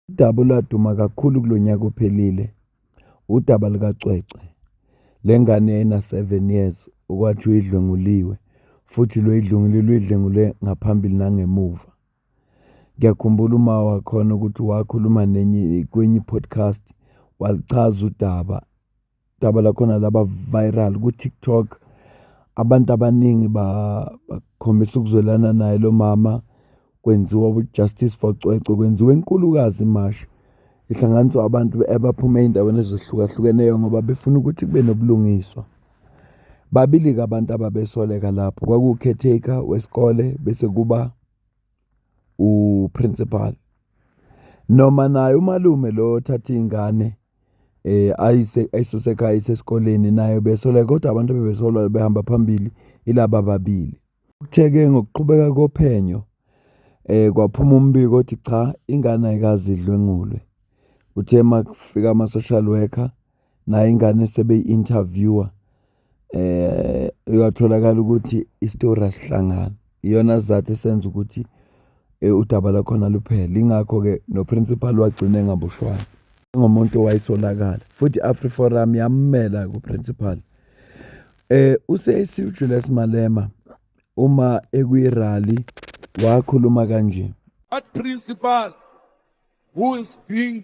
Udaba olwaduma kakhulu kulo nyaka ophelile udaba lukacwecwe le ngane ena-seven years okwathi uyidlwenguliwe futhi lo idlwengule luyidlwengule ngaphambili nangemuva. Ngiyakhumbula uma wakhona ukuthi wakhuluma nenye kwenye i-podcast walichaza udaba. daba lakhona laba viral ku-TikTok. Abantu abaningi bakhombisa ukuzwelana naye lo mama, kwenziwa u-Justice for Cwecwe, kwenziwa enkulukazi imashi. Ihlanganiswa abantu abaphuma ey'ndaweni ezehlukahlukeneyo ngoba befuna ukuthi kube nobulungiswa. Babili-ke abantu ababesoleka lapho, kwakuwu-caretaker wesikole bese kuba. uprinsipali noma naye umalume lo othatha iy'ngane um ayise ayisuse ekhaya ayise esikoleni naye ubesolwa kodwa abantu ebebesolwa behamba phambili ilaba ababili. Kuthe-ke ngokuqhubeka kophenyo um kwaphuma umbiko othi cha ingane ayikaze idlwengulwe. Kuthe makufika ama-social worker. nayo ingane sebeyi-interviewer eh uyatholakala ukuthi isitori asihlangani iyona sizathu esenza ukuthi eh, udaba lakhona luphele ingakho-ke noprincipal wagcina engaboshwanga ngomuntu owayesolakala futhi i-afri forum yammela kuprincipal eh usesiwu julius malema uma ekuyirally wakhuluma kanje at principal who is being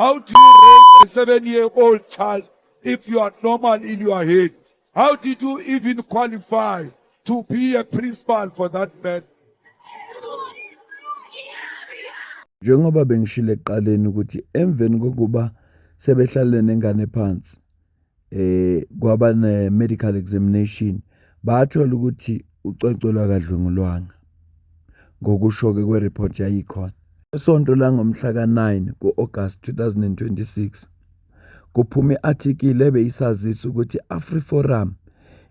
How do you raise a seven year old child if you are normal in your head? How did you even qualify to be a principal for that man? Njengoba bengishilo ekuqaleni ukuthi emveni kokuba sebehlale nengane phansi eh kwaba ne medical examination bathola ukuthi ucwecwe lwakadlwengulwanga ngokusho ke kwereport yayikhona esonto la ngomhla ka-9 ku-August 2026 kuphume i-article ebeyisazisa ukuthi i-AfriForum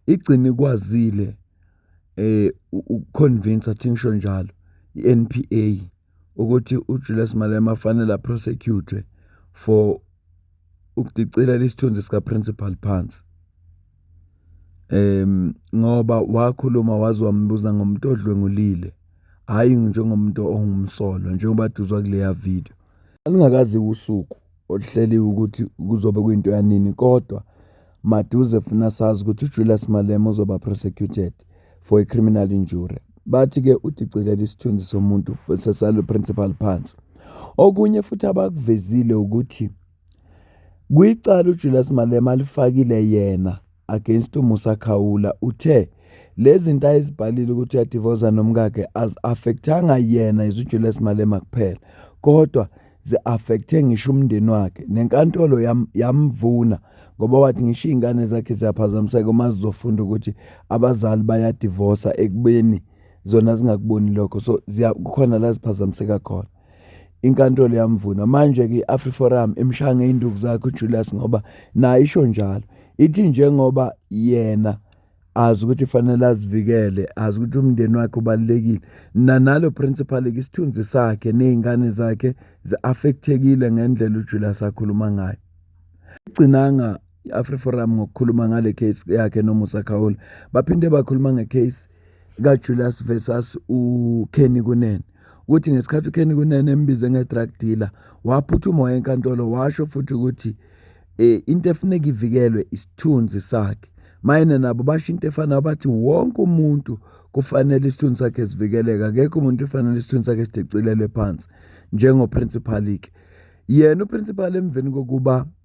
igcine ikwazile eh ukuconvince athingisho njalo i-NPA ukuthi uJulius Malema fanele a-prosecute-we for ukudicilela isithunzi sika-principal phansi. Um, ngoba wakhuluma waze wambuza ngomuntu odlwengulile, hhayi njengomuntu ongumsolwa njengoba duzwa kuleya video. Alungakazi usuku. oluhleliwe ukuthi kuzobe kuyinto yanini kodwa maduze funa sazi ukuthi uJulius Malema uzoba prosecuted for a criminal injury bathi ke udicilela isithunzi somuntu sesalo principal phansi okunye futhi abakuvezile ukuthi kwicala uJulius Malema alifakile yena against uMusa Khawula uthe lezinto ayizibhalile ukuthi uyadivoza nomkakhe azi-affectanga yena izuJulius Malema kuphela kodwa zi-affecthe ngisho umndeni wakhe nenkantolo yam, yamvuna ngoba wathi ngisho iy'ngane zakhe ziyaphazamiseka uma zizofunda ukuthi abazali bayadivosa ekubeni zona zingakuboni lokho so kukhona la ziphazamiseka khona inkantolo yamvuna manje-ke i-afriforum imshaya ngey'nduku zakhe ujulius ngoba nayo isho njalo ithi njengoba yena azi ukuthi fanele azivikele azi ukuthi umndeni wakhe ubalulekile nanalo principal-ke isithunzi sakhe ney'ngane zakhe zi-affekthekile ngendlela ujulius akhuluma ngayo gcinanga i-afriforum ngokukhuluma ngale case yakhe nomusa khawula baphinde bakhuluma ngecase kajulius versus ukenny kunene ukuthi ngesikhathi ukenny kunene embize nge-drug dealer waphuthuma waya enkantolo washo futhi ukuthi um into efuneka ivikelwe isithunzi sakhe mayena nabo basho into efanayo bathi wonke umuntu kufanele isithunzi sakhe sivikeleke akekho umuntu ufanele isithunzi sakhe sidicilelwe phansi njengoprincipal-ke yena uprincipal emveni kokuba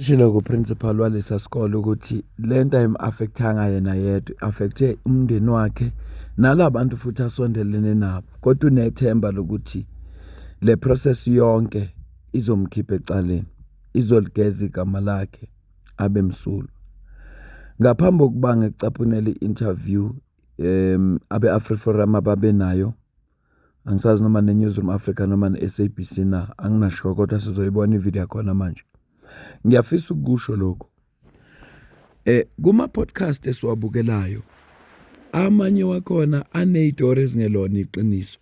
Ushilo ku-principal walesa sikole ukuthi le nto ayimu-affektanga yena yedwa affekthe umndeni wakhe nala bantu futhi asondelene nabo kodwa unethemba lokuthi le process yonke izomkhipha ecaleni izoligeza igama lakhe abe msulwa ngaphambi kokuba ngikucaphunele i-interview um abe-afriforum ababenayo Angisazi noma ne-Newzroom Afrika noma ne-S_A_B_C na, anginashoyo kodwa sizoyibona i-video yakhona manje. Ngiyafisa ukukusho lokhu, kuma-podcast esiwabukelayo, amanye wakhona aney'tori ezingelona iqiniso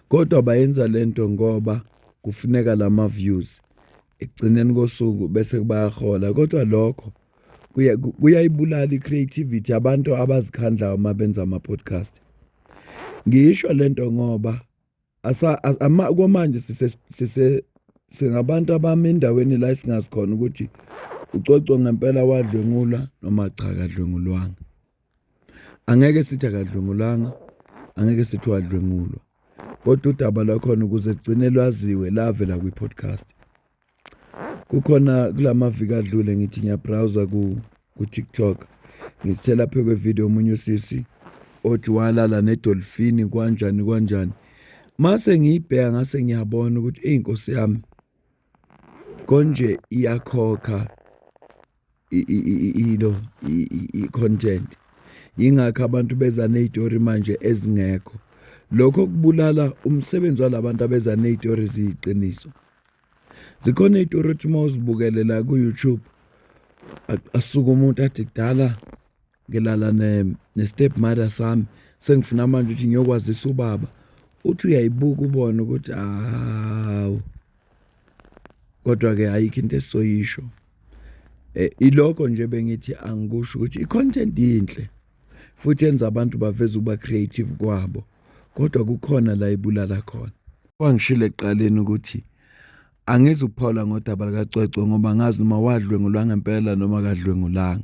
kodwa bayenza le nto ngoba kufuneka lama-views. ekugcineni kosuku bese kubayahola kodwa lokho kuyayibulala i-creativity abantu abazikhandlayo uma benza ama-podcast ngisho le nto ngoba komanje singabantu abami endaweni la esingazi khona ukuthi ucoco ngempela wadlwengula noma cha kadlwengulwanga Angeke sithi akadlwengulanga, angeke sithi wadlwengulwa kodwa udaba lwakhona ukuze kugcine lwaziwe lavela kwi-podcast kukhona kula maviki adlule ngithi ngiyabrawuza ku-tiktok ngithe lapho kwevidiyo omunye usisi othi walala nedolfini kwanjani kwanjani mase ngiyibheka ngase ngiyabona ukuthi eyi nkosi yami Konje iyakhokha ilo i-content yingakho abantu beza ney'tori manje ezingekho lokho kubulala umsebenzi walabantu abeza ney'tori ziyiqiniso zikhona iy'tori othi uma uzibukele la ku-youtube asuke umuntu athi kudala ngilala ne-step mother sami sengifuna manje ukuthi ngiyokwazisa ubaba uthi uyayibuka ubone ukuthi hawu kodwa-ke ayikho into esizoyisho um eh, ilokho nje bengithi angikusho ukuthi i-content yinhle futhi yenza abantu baveze ukuba creative kwabo kodwa kukhona la ibulala khona wangishilo ekuqaleni ukuthi angizuphola ngodaba likacwecwe ngoba ngazi noma wadlwengulwa ngempela noma kadlwengulanga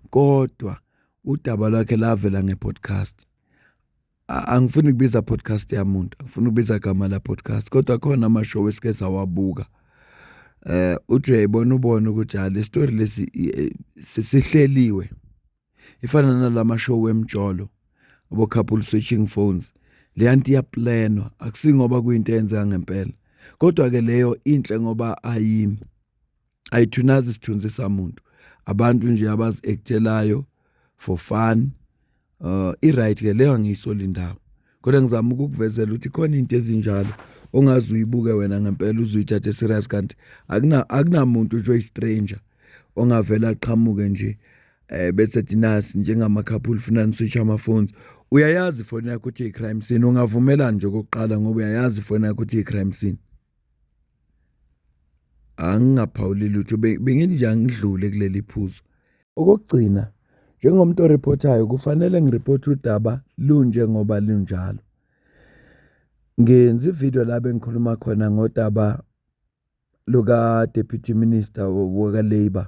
kodwa udaba lwakhe lavela ngepodcast angifuni kubiza podcast yamuntu angifuni kubiza gama la podcast kodwa khona ama show esike sawabuka eh uthi uyayibona ubona ukuthi ha le story lesi eh, sihleliwe ifana nalama show wemjolo abo couple switching phones le anti iyaplanwa akusingoba kuyinto eyenzeka ngempela kodwa ke leyo inhle ngoba ayi ayithunazi isithunzi samuntu abantu nje abazi ekthelayo for fun uh i right ke leyo angiyiso lindawo kodwa ngizama ukukuvezela ukuthi khona into ezinjalo ongazi uyibuke wena ngempela uzuyithathe serious kanti akuna akunamuntu nje oyistranger ongavela aqhamuke nje eh bese dinasi njengama couple funa niswitch ama phones uyayazi ifoni yakho ukuthi i-crime scene ungavumelani nje okokuqala ngoba uyayazi ifoni yakho ukuthi i-crime scene angingaphawuli lutho bengithi angidlule kuleli phuzu okokugcina njengomuntu oreportayo kufanele ngireporte udaba lunje ngoba lunjalo ngenza ivideo la bengikhuluma khona ngodaba luka-deputy minister waka-labour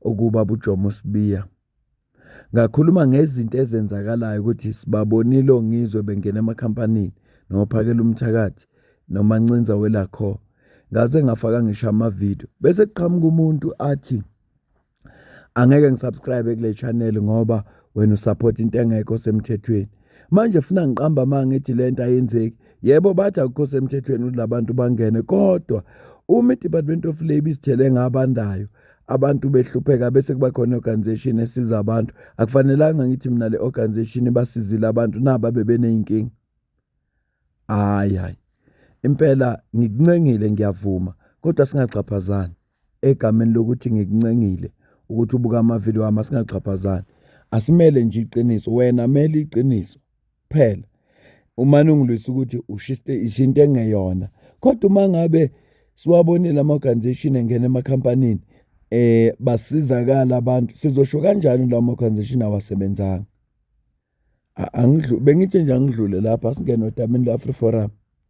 okuba bujomo sibiya Ngakhuluma ngezinto ezenzakalayo ukuthi sibabonile oNgizwe bengena emakhampanini noPhakela umthakathi noMancinza welakho. Ngaze ngafaka ngisho amavidiyo bese kuqhamuka umuntu athi angeke ngisubscribe kule channel ngoba wena usupport into engekho semthethweni. Manje funa ngiqamba amanga ngithi lento ayenzeki. Yebo bathi akukho semthethweni ukuthi labantu bangene kodwa uma iDepartment of Labour isithele ngabandayo abantu behlupheka bese kuba khona i-organization esiza abantu akufanelanga ngithi mina le organization ibasizile abantu naba bebeneyinkinga hayi hayi impela ngikuncengile ngiyavuma kodwa singaxhaphazani egameni lokuthi ngikuncengile ukuthi ubuka amavidiyo wami asingaxhaphazani asimele nje iqiniso wena mele iqiniso kuphela umane ungilwisa ukuthi ushiste isinto engeyona kodwa uma ngabe siwabonile ama-organization engena emakhampanini eh basizakala abantu sizosho kanjani lawo ma-organization awasebenzanga angidlu bengithi nje angidlule lapha singene odamini la-free forum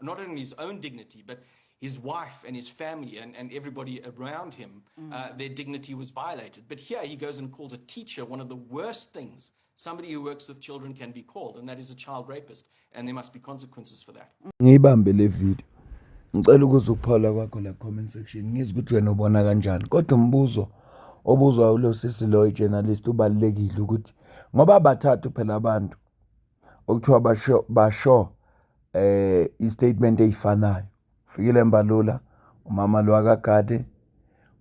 not only his own dignity, but his wife and his family and, and everybody around him, mm. uh, their dignity was violated. But here he goes and calls a teacher one of the worst things somebody who works with children can be called, and that is a child rapist, and there must be consequences for that. Ngiyibambe le video. Ngicela ukuza ukuphola kwakho la comment section. Ngizwe ukuthi wena ubona kanjani. Kodwa umbuzo obuzwa ulo sisi lo journalist ubalekile ukuthi ngoba bathathu phela abantu okuthiwa basho basho eh istatement eyifanayo fikile mbalula umama lo akagade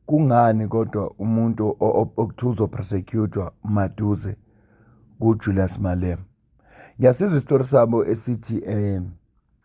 kungani kodwa umuntu okuthiwa uzopersecutwa maduze kuJulius Malema ngiyasizwa isitori sabo esithi eh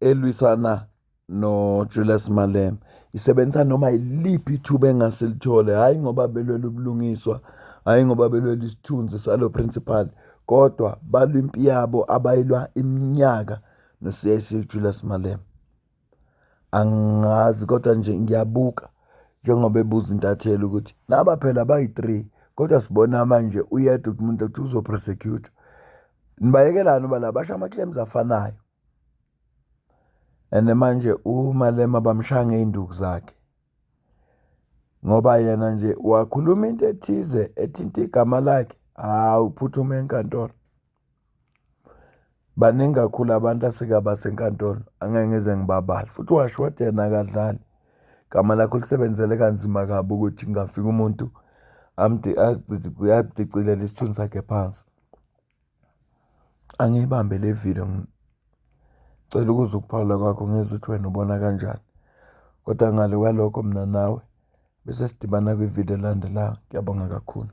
elwisana noJulius Malema isebenzisa noma yiliphi ithuba engase lithole hhayi ngoba belwela ubulungiswa hhayi ngoba belwela isithunzi salo principal kodwa balwa impi yabo abayilwa iminyaka no-CIC uJulius Malema angazi kodwa nje ngiyabuka njengoba ebuza intatheli ukuthi naba phela bayi-three kodwa sibona manje uyedwa ukuthi umuntu ukuthi uzoprosecutwa nibayekelani uba la basho ama-claims afanayo and manje uMalema bamshaya ngey'nduku zakhe ngoba yena nje wakhuluma into ethize ethinta igama lakhe hawu uphuthume enkantolo baningi kakhulu abantu asike abasenkantolo angeke ngize ngibabali futhi washo wathi yena akadlali igama lakho lisebenzele kanzima kabi ukuthi ngafika umuntu amdicilela isithunzi sakhe phansi. Angiyibambe le video, ngicela ukuzwa ukuphawula kwakho ngizwe ukuthi wena ubona kanjani. Kodwa ngale kwalokho mina nawe bese sidibana kwi-video elandelayo. Ngiyabonga kakhulu.